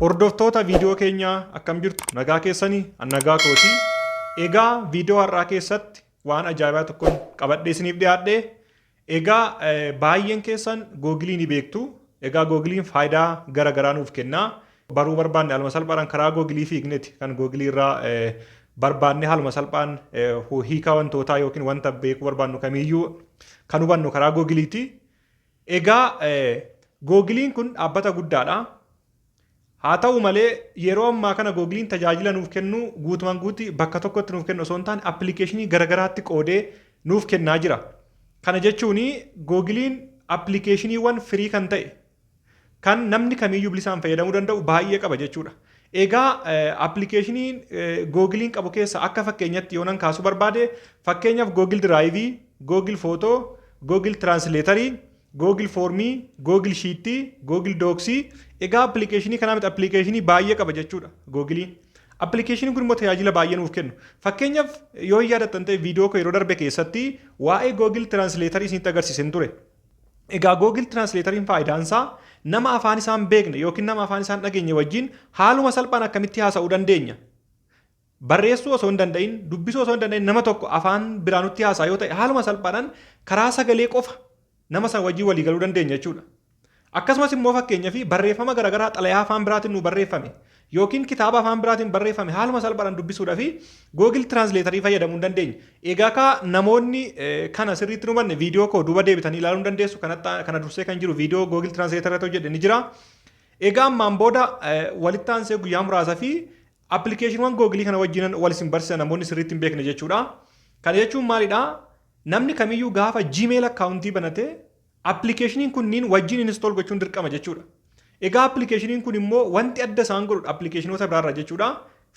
Hordoftoota viidiyoo keenyaa akkam jirtu nagaa keessanii an nagaa kooti. Egaa viidiyoo har'aa keessatti waan ajaa'ibaa tokkoon qabadhee isiniif dhiyaadhe. Egaa eh, baay'een keessan googilii ni beektu. Egaa googiliin faayidaa gara garaa nuuf kenna. Baruu barbaanne haaluma salphaadhaan karaa googilii fiigneti kan googilii irraa eh, barbaanne haaluma salphaan eh, hiika wantootaa yookiin wanta beekuu barbaannu kamiiyyuu kan hubannu karaa googiliiti. Egaa Googiliin kun dhaabbata guddaadha. Haa ta'u malee yeroo ammaa kana Googiliin tajaajila nuuf kennu guutumaan guutti bakka tokkotti nuuf kennu osoo hin taane appilikeeshinii garagaraatti qoodee nuuf kennaa jira. Kana jechuun Googiliin appilikeeshiniiwwan firii kan ta'e kan namni kamiiyyuu bilisaan fayyadamuu danda'u baay'ee qaba jechuudha. Egaa appilikeeshinii googiliin qabu keessa akka fakkeenyatti yoonan kaasuu barbaade fakkeenyaaf googil diraayivii, googil footoo, googil tiraansileetarii, googil foormii, googil shiittii, googil dooksii egaa appilikeeshinii kanaa miti appilikeeshinii baay'ee qaba jechuudha googiliin. Appilikeeshiniin kun immoo tajaajila baay'ee nuuf kennu. Fakkeenyaaf yoo yaadattan ta'e viidiyoo koo yeroo darbe keessatti waa'ee googil tiraansileetarii isinitti agarsiiseen ture. Egaa Google Translator'n faayidaan isaa nama afaan isaa hin beekne ykn nama afaan isaa hin dhageenye wajjin haaluma salphaan akkamitti haasa'uu dandeenya? Barreessuu osoo hin danda'in, dubbisuu osoo hin danda'in nama tokko afaan biraa nutti haasa'a yoo ta'e haaluma salphaadhaan karaa sagalee qofa nama sana wajjin walii galuu dandeenya jechuudha. Akkasumas immoo fakkeenyaaf barreeffama garaagaraa xalayaa afaan biraatiin nuu barreeffame Yookiin kitaaba afaan biraatiin barreeffame haaluma salphaadhaan dubbisuudhafi Google Translator fayyadamuu hin dandeenye. Egaa kaa namoonni kana sirriitti hin hubanne viidiyoo koo duuba deebitanii ilaaluu ni dandeessu. Kana dursee kan jiru viidiyoo Google Translator irratti hojjedhe ni jira. Egaa ammaan booda walitti aansee guyyaa muraasa fi appilikeeshiniiwwan Google kana wajjinan wal isin barsiisa namoonni sirriitti hin beekne jechuudha. Kana jechuun maalidha? Namni kamiyyuu gaafa Gmail akkaawuntii banatee Appilikeeshiniin kunniin wajjin install gochuun dirqama jechuudha. Egaa appilikeeshiniin kun immoo wanti adda isaan godhu appilikeeshinoota biraarraa jechuudha.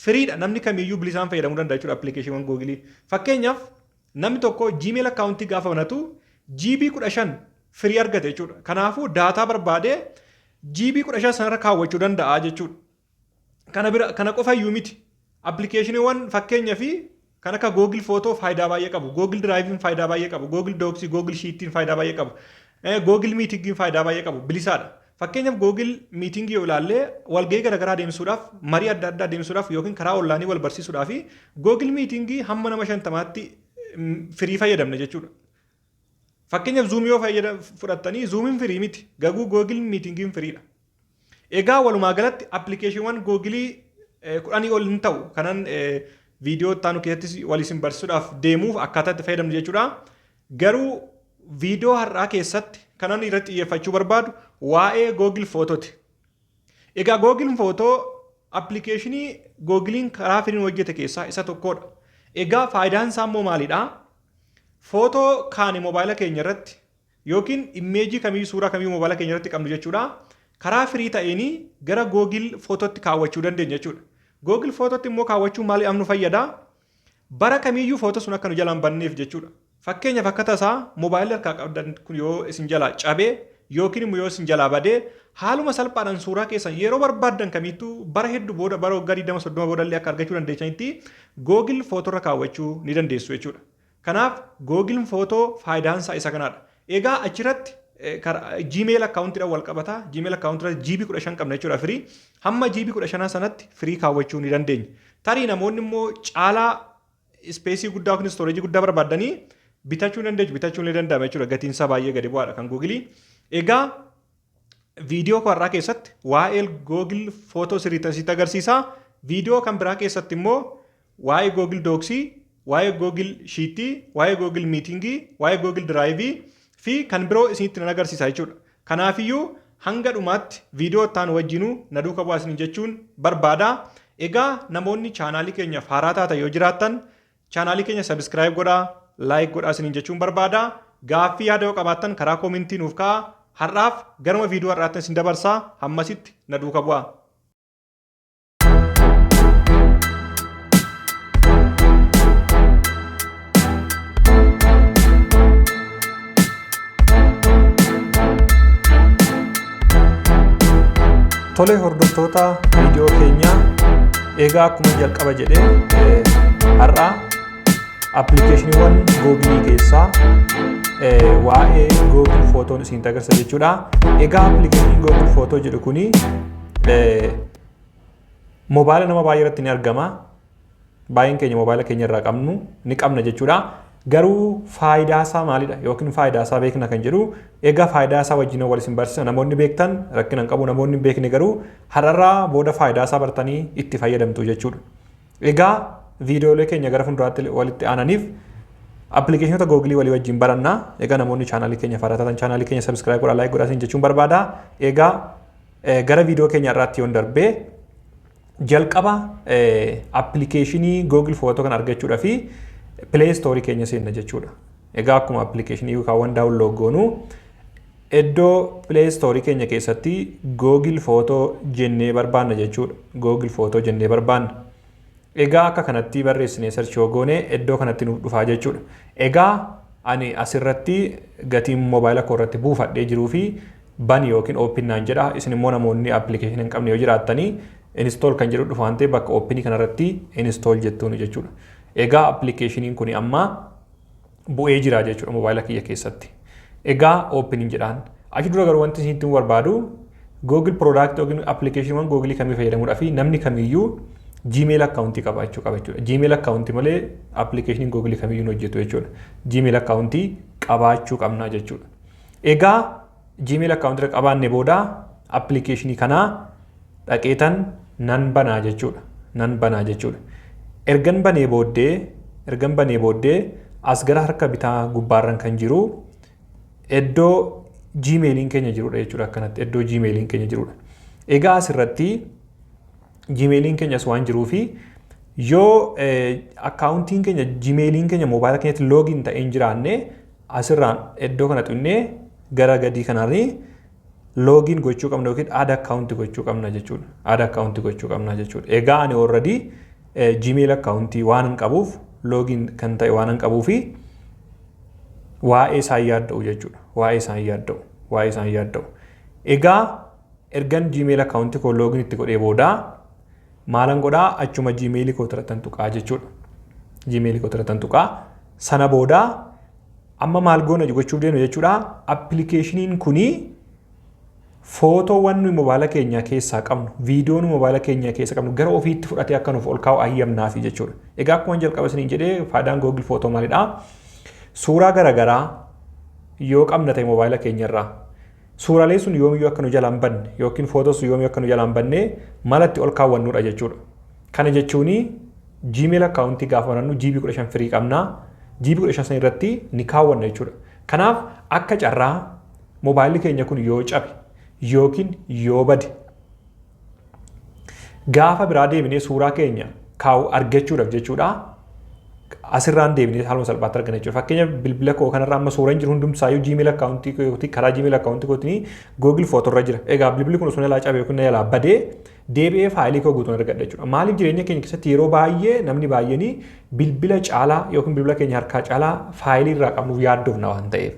Firiidha namni kamiiyyuu bilisaan fayyadamuu danda'a jechuudha appilikeeshiniiwwan googilii. Fakkeenyaaf namni tokko Gmail akkaawuntii gaafa banatu GB 15 firii argate jechuudha. Kanaafuu daataa barbaadee GB 15 sanarra kaawwachuu danda'a jechuudha. Kana bira kana qofa iyyuu miti. Appilikeeshiniiwwan fakkeenya fi kan akka Google Photo faayidaa baay'ee qabu. Google Drive'n faayidaa baay'ee qabu. Google Docs, Google Sheet'n faayidaa baay'ee qabu. Eh, Google Meeting'n faayidaa baay'ee qabu. Bilisaadha. Fakkeenyaaf Google Meeting yoo ilaalle walgahii garaagaraa adeemsisuudhaaf, marii adda addaa adeemsisuudhaaf yookiin karaa oonlaayinii wal barsiisuudhaaf Google Meeting hamma nama shantamaatti mm, firii fayyadamna jechuudha. Fakkeenyaaf Zoom yoo fayyada fudhattanii Zoomiin firii miti. Gaguu Google Meetingiin firiidha. Egaa walumaa galatti appilikeeshiniiwwan Googilii eh, kudhanii ol hin ta'u. Kanan eh, viidiyoo itti aanu keessattis wal isin barsiisuudhaaf deemuuf akkaataa itti fayyadamnu jechuudha. Garuu viidiyoo har'aa keessatti kanan irratti xiyyeeffachuu barbaadu waa'ee Google Footooti. Egaa Google Photo appilikeeshinii Googiliin karaa firiin hojjete keessaa isa tokkodha. Egaa faayidaan isaa immoo maalidha? Footoo kaane moobaayila keenya irratti yookiin immeejii kamiyyuu suuraa kamiyyuu moobaayila keenya irratti qabnu jechuudha. Karaa firii ta'een gara Google Phototti kaawwachuu dandeenya jechuudha. Google Phototti immoo kaawwachuun maaliidhaaf nu fayyada? Bara kamiiyyuu photo sun akka nu jalaa hin banneef jechuudha. Fakkeenyaaf akka tasaa mobile harkaa qabdan kun yoo isin jalaa cabe yookiin immoo yoo isin jalaa bade haaluma salphaadhaan suuraa keessan yeroo barbaaddan kamiittuu bara heddu booda bara waggaa 20 30 booda illee akka argachuu dandeessanitti Google photo irra kaawwachuu ni dandeessu jechuudha. Kanaaf Google photo faayidaan isaa isa kanaadha. Egaa achiratti Gmail account dhaan wal qabata. Gmail account irratti GB 15 qabna jechuudha free. Hamma GB 15 sanatti free kaawwachuu ni dandeenya. Tarii namoonni immoo caalaa ispeesii guddaa yookiin storage guddaa barbaaddanii bitachuu ni dandeessu. Bitachuun ni danda'ama jechuudha. Gatiin isaa baay'ee gadi bu'aadha kan Google. Egaa Viidiyoo koo har'aa keessatti waa'ee Google Footoo sirriittan sitti agarsiisa. Viidiyoo kan biraa keessatti immoo waa'ee Google Dooksii, waa'ee Google Shiittii, waa'ee Google Miitingii, waa'ee Google Diraayivii fi kan biroo isinitti nan agarsiisa jechuudha. Kanaafiyyuu hanga dhumaatti viidiyoo itti aanu wajjinuu na duuka bu'aa isiniin jechuun barbaada. Egaa namoonni chaanaalii keenyaaf haaraa taatan yoo jiraattan Chaanaalii keenya subscribe godhaa, like godhaa isiniin jechuun barbaada. Gaaffii yaada yoo qabaattan karaa koomintii nuuf ka'aa. Har'aaf garuma viidiyoo har'aattan isin dabarsaa hammasitti na duuka bu'aa. Tole hordoftoota viidiyoo keenyaa egaa akkuma jalqaba jedhe eh, har'a appilikeeshiniiwwan googilii keessaa eh, waa'ee googil footoon isin agarsiisa jechuudha. Egaa appilikeeshiniin googil footoo jedhu kuni eh, mobaayila nama baay'ee irratti ni argama. baay'een keenya moobaayila keenya irraa qabnu ni qabna jechuudha. Garuu faayidaa isaa maalidha yookiin faayidaa isaa beekna kan jedhu egaa faayidaa isaa wajjin wal isin barsiisa namoonni beektan rakkina hin qabu namoonni hin beekne garuu har'arraa booda faayidaa isaa bartanii itti fayyadamtu jechuudha. Egaa viidiyoolee keenya gara fuulduraatti walitti aananiif appilikeeshinoota googilii walii wajjin baranna. Egaa namoonni chaanaalii keenya faaratan chaanaalii keenya sabiskiraayib godhaa laayik godhaa isin jechuun barbaada. Egaa gara viidiyoo keenya irraatti yoon darbee Jalqaba appilikeeshinii Google Photo kan argachuudha fi Play Store keenya seenna jechuudha. Egaa akkuma appilikeeshinii yookaan waan daawunlood goonu iddoo Play Store keenya keessatti Google Photo jennee barbaanna jechuudha. Google Photo jennee barbaanna. Egaa akka kanatti barreessinee search yoo goone iddoo kanatti nuuf dhufaa jechuudha. Egaa ani asirratti gatiin moobaayila koo irratti buufadhee jiruu fi bani yookiin open naan jedha isin immoo namoonni application hin qabne yoo jiraattanii install kan jedhu dhufa waan ta'eef bakka open kanarratti install jettuun jechuudha. Egaa appilikeeshiniin kun amma bu'ee jira jechuudha mobaayila kiyya keessatti. Egaa open hin jedhaan. Achi dura garuu wanti isin barbaadu Google product yookiin appilikeeshiniiwwan Google kamii fayyadamuudhaa fi namni kamiyyuu Gmail akkaawuntii qabaachuu qaba jechuudha. Gmail akkaawuntii malee appilikeeshiniin Google kamiyyuu hin hojjetu jechuudha. Gmail akkaawuntii qabaachuu qabna jechuudha. Egaa Gmail account irra qabaanne booda application kanaa dhaqeetan nan banaa jechuudha. Nan banaa jechuudha. Ergan banee booddee ergan banee booddee as gara harka bitaa gubbaarran kan jiru iddoo Gmailiin keenya jirudha jechuudha akkanatti iddoo Gmailiin keenya jirudha. Egaa asirratti Gmailiin keenyas waan jiruu fi yoo akkaawuntiin keenya Gmailiin keenya moobaayila keenyatti loogiin ta'ee hin jiraanne Asirraan iddoo kana tuqnee gara gadii kanarri loogiin gochuu qabna yookiin aada akkaawunti gochuu qabna jechuudha. Aada akkaawunti gochuu qabna jechuudha. Egaa ani already Gmail akkaawuntii waan hin qabuuf loogiin kan ta'e waan hin qabuu fi waa'ee isaan yaadda'u jechuudha. Waa'ee isaan yaadda'u. Waa'ee isaan yaadda'u. Egaa ergan Gmail akkaawuntii koo loogiin itti godhee booda maalan godhaa achuma gmail koo tiratan tuqaa jechuudha. Gmail koo tiratan tuqaa sana booda amma maal goona gochuuf deemna jechuudha. Appilikeeshiniin kunii footoowwan nuyi mobaala keenyaa keessaa qabnu, viidiyoo nuyi mobaala keenyaa keessa qabnu gara ofiitti fudhatee akka nuuf ol kaa'u ayyamnaafi jechuudha. Egaa akkuma jalqaba isiniin jedhee faayidaan Google Footoo maalidha? Suuraa garaagaraa yoo qabna ta'e mobaala keenyarraa Suuralee sun yoomiyyuu akka nu jalaa hin badne yookiin footoo sun yoomiyyuu akka nu jalaa hin badne mala itti ol kaawwannudha jechuudha. Kana jechuun Gmail akkaawuntii gaafa banannu GB 15 firii qabna. GB 15 san irratti ni kaawwanna jechuudha. Kanaaf akka carraa mobaayilli keenya kun yoo cabe yookiin yoo bade Gaafa biraa deebinee suuraa keenya kaa'u argachuudhaaf jechuudha. Asirraan deebinee haaluma salphaatti argana jechuudha. Fakkeenya bilbila koo kanarra amma suuraan jiru hundumsaayyuu Gmail akkaawuntii kootii karaa Gmail akkaawuntii kootii Google Footoo irra jira. Egaa bilbilli kun osoo jalaa cabee yookiin jalaa badee deebi'ee faayilii koo guutuun argadha jechuudha. Maaliif jireenya keenya keessatti yeroo baay'ee namni baay'een bilbila caalaa yookiin bilbila keenya harkaa caalaa faayilii irraa qabnuuf yaaddofna waan ta'eef.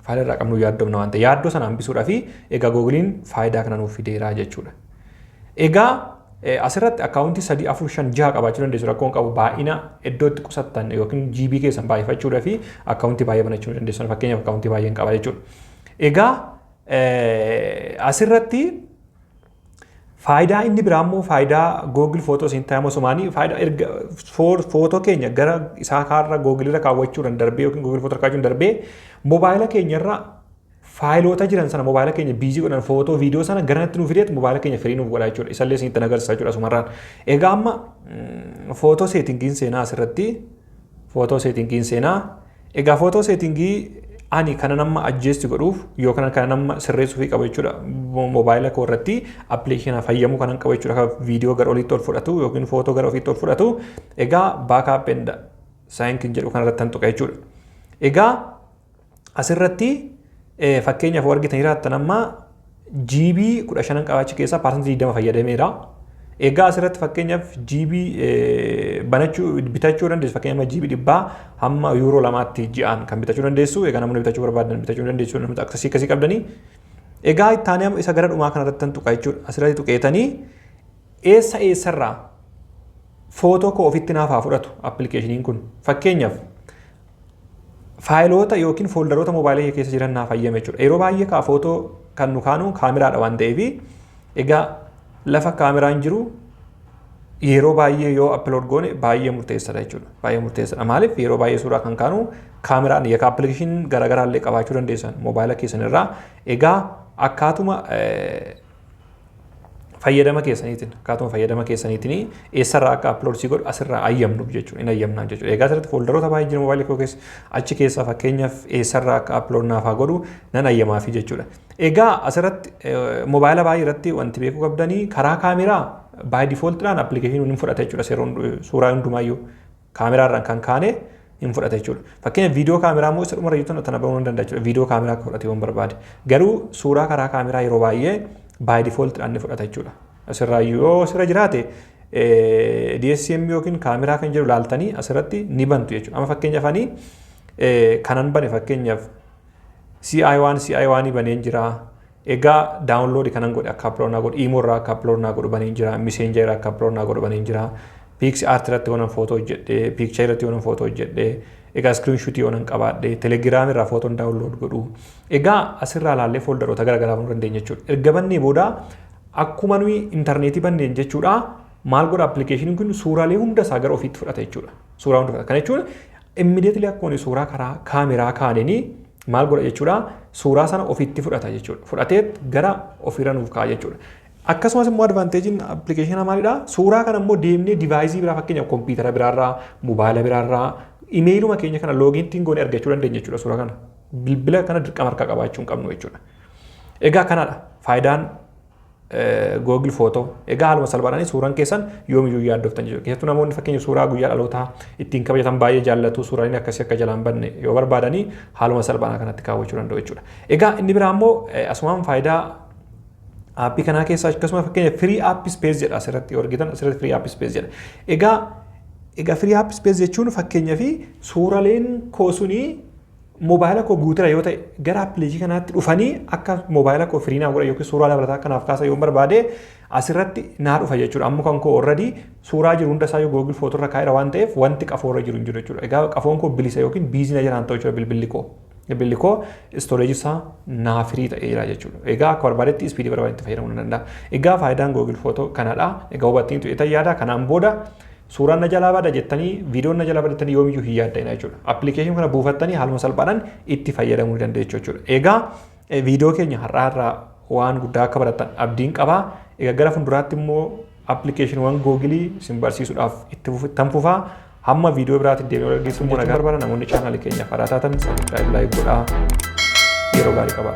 Faayila irraa qabnu yaaddomna waan ta'e yaaddoo sana hambisuudha fi egaa googiliin faayidaa kana nuuf fideeraa jechuudha. Egaa asirratti akkaawuntii sadii afur shan jaha qabaachuu dandeessu rakkoon qabu baay'ina iddootti qusattan yookiin GB keessan baay'ifachuudha fi akkaawuntii baay'ee banachuu ni dandeessu fakkeenyaaf akkaawuntii baay'een qaba jechuudha. Egaa asirratti Faayidaa inni biraa immoo faayidaa Google Photos in time osomaanii faayidaa erga footoo keenya gara isaa kaarra Google irra kaawwachuudhaan darbee yookiin Google Photos kaawwachuun darbee mobaayila keenya irra faayiloota jiran sana mobaayila keenya biizii godhan footoo viidiyoo sana garanatti nuuf fideet mobaayila keenya firii nuuf godhaa jechuudha. Isallee isinitti agarsiisa jechuudha asumarraan. Egaa amma footoo seetingiin seenaa asirratti footoo seetingiin seenaa Egaa footoo seetingii ani kanan amma ajjeesti godhuuf yookaan kanan amma sirreessuufii qaba jechuudha moobaayila koo irratti appilikeeshina fayyamuu kanan qaba jechuudha kan viidiyoo gara oliitti ol fudhatu yookiin footoo gara ofiitti ol fudhatu egaa baakaap enda saayinkin jedhu kanarratti tan tuqa jechuudha. Egaa asirratti Eh, Fakkeenyaaf yoo argitan jiraattan amma GB 15 qaba achi keessaa paasantii 20 fayyadameera. Egaa asirratti fakkeenyaaf GB eh, banachuu bitachuu dandeessu fakkeenyaaf amma GB dhibbaa hamma yuuroo lamaatti ji'aan kan bitachuu dandeessu egaa namoonni bitachuu barbaadan bitachuu ni dandeessu namoota akkasii akkasii qabdanii. Egaa ittaanee amma isa gara dhumaa kanarratti tan tuqa jechuudha asirratti tuqeetanii eessa eessarraa footoo koo ofitti naaf haa fudhatu appilikeeshiniin kun fakkeenyaaf faayiloota yookiin fooldaroota moobaayila kee keessa jiran naaf hayyame jechuudha. Yeroo baay'ee kaa footoo kan nu kaanu kaameraadha waan ta'eef egaa lafa kaameraan jiru yeroo baay'ee yoo upload goone baay'ee murteessadha jechuudha. Baay'ee murteessadha. Maaliif yeroo baay'ee suuraa kan kaanu kaameraan yakka appilikeeshiin garaagaraa illee qabaachuu dandeessan moobaayila keessan irraa. Egaa akkaatuma fayyadama keessaniitiin akkaatuma fayyadama keessaniitiin eessarraa akka upload si godhu asirraa ayyamnuuf jechuudha hin ayyamnaan jechuudha egaa asirratti fooldaroota baay'ee jiru mobaayilii koo keessa achi keessaa fakkeenyaaf eessarraa akka upload naaf haa godhu nan ayyamaafii jechuudha egaa asirratti mobaayila baay'ee irratti wanti beekuu qabdanii karaa kaameraa baay difooltiidhaan appilikeeshiniin hin fudhata jechuudha seeroon suuraa hundumaayyuu Kaameraa irraan kan kaane hin fudhata jechuudha. Fakkeenya viidiyoo kaameraa immoo isa dhumarra jirtu tana banuu ni danda'a jechuudha. Viidiyoo kaameraa akka fudhatu yoon barbaade. Garuu suuraa karaa kaameraa yeroo baay'ee by default dhaan ni fudhata jechuudha. Asirraa yoo asirra jiraate DSCM yookiin kaameraa kan jedhu laaltanii asirratti ni bantu jechuudha. Amma fakkeenyaaf ani kanan bane fakkeenyaaf CI1 CI1 baneen jira. Egaa download kanan godhe akka upload naa godhu imo irraa akka upload naa godhu baneen jira messenger irraa akka upload naa godhu baneen jira pix art irratti yonan foto hojjedhe picture irratti yonan foto hojjedhe egaa screenshot yonan qabaadhe telegram irraa foton download godhu egaa asirraa laallee foldaroota garaagaraa banuu dandeenya jechuudha erga bannee booda akkuma nuyi intarneetii banneen jechuudha maal godha appilikeeshiniin kun suuraalee hunda isaa gara ofiitti fudhata jechuudha suuraa hunda fudhata kana jechuun Immediately akkuma inni suuraa karaa kaameraa kaanini maal godha jechuudha suuraa sana ofitti fudhata jechuudha. Fudhateet gara ofirra nuuf kaa'a jechuudha. Akkasumas immoo advanteejiin appilikeeshinaa maalidha? Suuraa kana immoo deemnee divaayisii biraa fakkeenyaaf kompiitara biraarraa, mobaayila biraarraa, imeeyiluma keenya kana loogiintiin goone argachuu dandeenya jechuudha suuraa kana. Bilbila kana dirqama harkaa qabaachuu hin qabnu jechuudha. Egaa kanadha faayidaan Google Footoo. Egaa haaluma salphaadhaan suuraan keessan yoomiyyuu yaaddoftan jechuudha. Keessattuu namoonni fakkeenya suuraa guyyaa dhalootaa ittiin kabajatan baay'ee jaallatu suuraaleen akkasii akka jalaan banne yoo barbaadanii haaluma salphaadhaan kanatti kaawwachuu danda'u jechuudha. Egaa inni biraa immoo asumaan faayidaa aappii kanaa keessaa akkasuma fakkeenya firii app space jedha asirratti yoo argitan asirratti firii app space jedha. Egaa egaa firii app space jechuun fakkeenya fi suuraleen koo sunii Mobaayila koo guutera yoo ta'e gara appiliikii kanaatti dhufanii akka mobaayila koo firii naa godhan yookiin suuraa dabalataa akka naaf kaasan yoon barbaade asirratti naa dhufa jechuudha. Amma kan koo already suuraa jiru hunda isaa yoo Google Photo irra kaa'eera waan ta'eef wanti qafoo irra jiru hin jiru jechuudha. Egaa qafoon koo bilisa yookiin biizii na jiraan ta'u jechuudha bilbilli koo. Bilbilli koo storage isaa naa firii ta'ee jira jechuudha. Egaa akka barbaadetti ispiidii barbaadetti fayyadamuu nan danda'a. Egaa faayidaan Google Photo kanadha. Egaa hubattaniitu etan yaada kanaan booda Suuraan na jalaa bada jettanii viidiyoon na jalaa bada jettanii yoomiyyuu hin yaadda'ina jechuudha. Appilikeeshinii kana buufattanii haaluma salphaadhaan itti fayyadamuu ni dandeessu jechuudha. Egaa viidiyoo keenya har'aa irraa waan guddaa akka barattan abdiin qaba. Egaa gara fuulduraatti immoo appilikeeshiniiwwan googilii isin barsiisuudhaaf itti fufittan fufaa. Hamma viidiyoo biraatti deemee wal argisiisuun immoo nagaa barbaada. Namoonni chaanaalii keenyaaf haaraa taatan sabiskiraayib laayik godhaa. Yeroo gaarii qabaa.